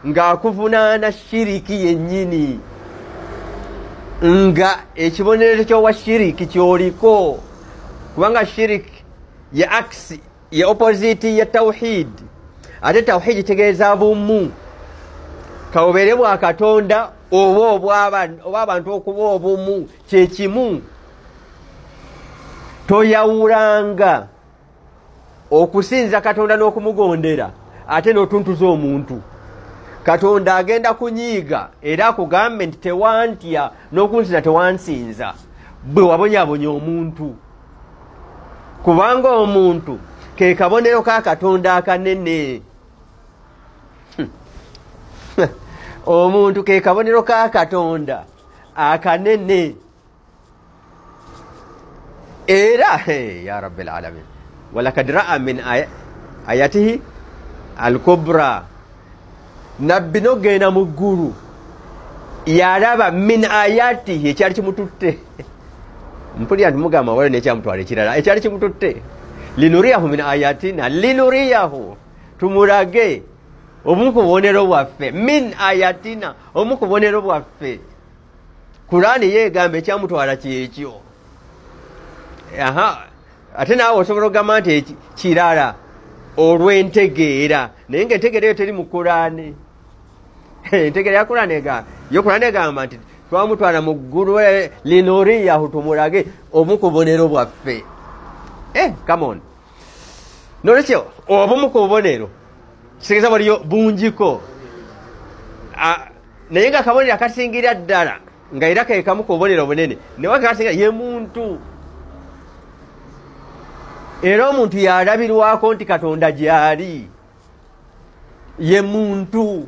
ng'akuvunaana shiriki yennyini nga ekibonerezo kyowa shiriki kyoliko kubanga shiriki ye akisi ye opoziti ye tawhidi ate tawhidi tegeeza bumu kawubeere bwa katonda oba oba abantu okuba obumu kyekimu toyawulanga okusinza katonda n'okumugondera ate n'otuntuza omuntu katonda agenda kunyiiga era akugambe nti tewantya n'okunsinza tewansinza bwe wabonyabonya omuntu kubanga omuntu ke kabonero ka katonda akanene hmm. omuntu ke kabonero ka katonda akanene era ya rabbi lalamin walakad raa min ayatihi alkubra nabbi nogenda mu ggulu yalaba min ayatihi ekyali kimututte mpulira nti mugamba waliwo nekyamutwala ekirala ekyali kimututte linuriyahu min ayatina linuriyahu tumulage obumu ku bubonero bwaffe min ayatina obumu ku bubonero bwaffe kulaani ye egamba ekyamutwala kyekyo aha ate naawe osobola okugamba nti kirala olw'entegeera naye nga entegeera eyo teri mu kulaani entegeera ya kulaani egamba yo kulaani egamba nti twamutwala mu ggulu eh, linuriyahu tumulage omu ku bubonero bwaffe e eh, come on nolwekyo obumu ku bubonero kitegeeza waliyo bungiko naye nga akabonero akasingira ddala nga era kekamu ku bubonero obunene newakasingira ye muntu era omuntu yalabirwako nti katonda gyali ye muntu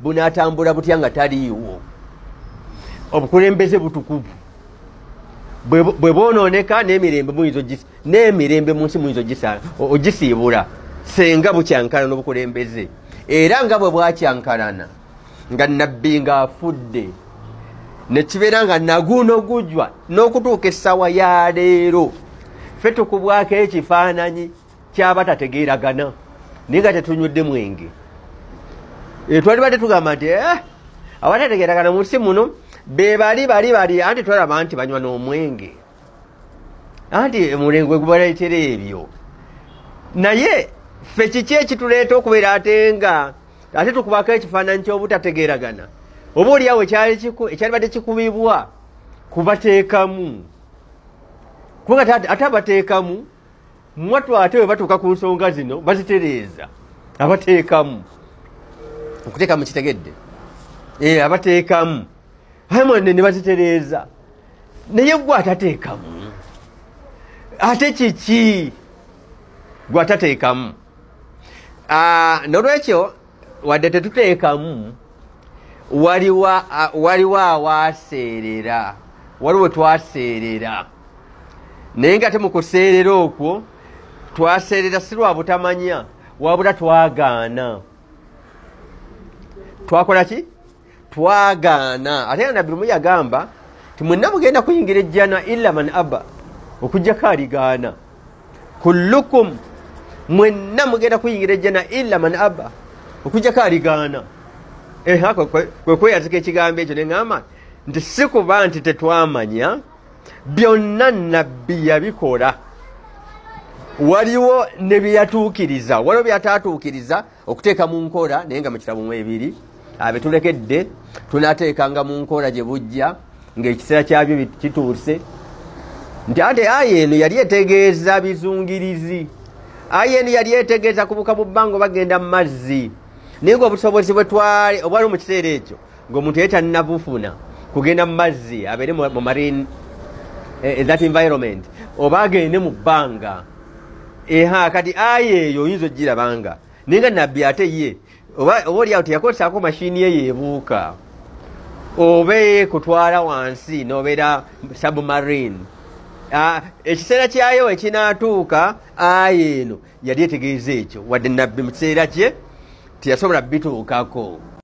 bunatambula butya nga taliiwo obukulembeze butukuvu bwe bwonooneka n'emirembe muyinza n'emirembe mu nsi muyinza ogisiibula senga bukyankana n'obukulembeze era nga bwe bwakyankalana nga nabbi ng'afudde nekibeera nga naguno gujwa n'okutuuka essaawa ya leero fe tukubwako ekifaananyi kyaba tategeeragana naye nga tetunywedde mwenge eh, twali badde tugamba nti eh, abatategeeragana mu nsi muno be bali bali bali anti twalaba nti banywa n'omwenge anti mulengwe gubaleetera ebyo naye ffe kiki ekituleeta okubeera ate nga ate tukubako ekifaananyi ky'obutategeeragana oba oliawo ekyalibadde kikubibwa kubateekamu kubanga ate abateekamu mwatu ate bwe batuuka ku nsonga zino bazitereeza abateekamu okuteekamu kitegedde eh, abateekamu amwanne ne bazitereeza naye gwe atateekamu ate kiki gwe atateekamu ah, nolwekyo wadde tetuteekamu waliwo awaaseerera waliwo twaseerera naye nga te mukuseerera okwo twaseerera si lwa butamanya wabula twagaana twakola ki twagaana ate nga nabbi lumu yagamba ti mwenna mugenda kuyingira ejjana illa man abba okujjako aligaana kullukum mwenna mugenda kuyingira ejjana illa man abba okujjako aligaana eha kwekweyazika ekigambo ekyo nengamba nti sikuba nti tetwamanya byonna nabbi yabikola waliwo ne byeyatuukiriza waliwo byataatuukiriza okuteeka mu nkola naye nga mu kitabo mu ebiri abetulekedde tunateekanga mu nkola gye bujja ng'ekiseera kyabyo kituuse nti ate aya eno yali etegeeza bizungirizi aya eno yali etegeeza kubuka mu bbanga bagenda mu mazzi naye ngaobusobozi bwetwali obwaliwo mu kiseera ekyo ngaomuntu ye tanabufuna kugenda mu mazzi abeere mu marine eh, eh, that environment oba agende mu bbanga eha eh, kati aya eyo oyinza ogirabanga naye nga nabbi ate ye oba oliawo teyakozesako mashini ye yebuuka oba ekutwala wansi nobeera submarine ah, ekiseera kyayo ekinatuuka aya eno yali etegeeza ekyo wadde nabbi mu kiseera kye teyasobola bituukako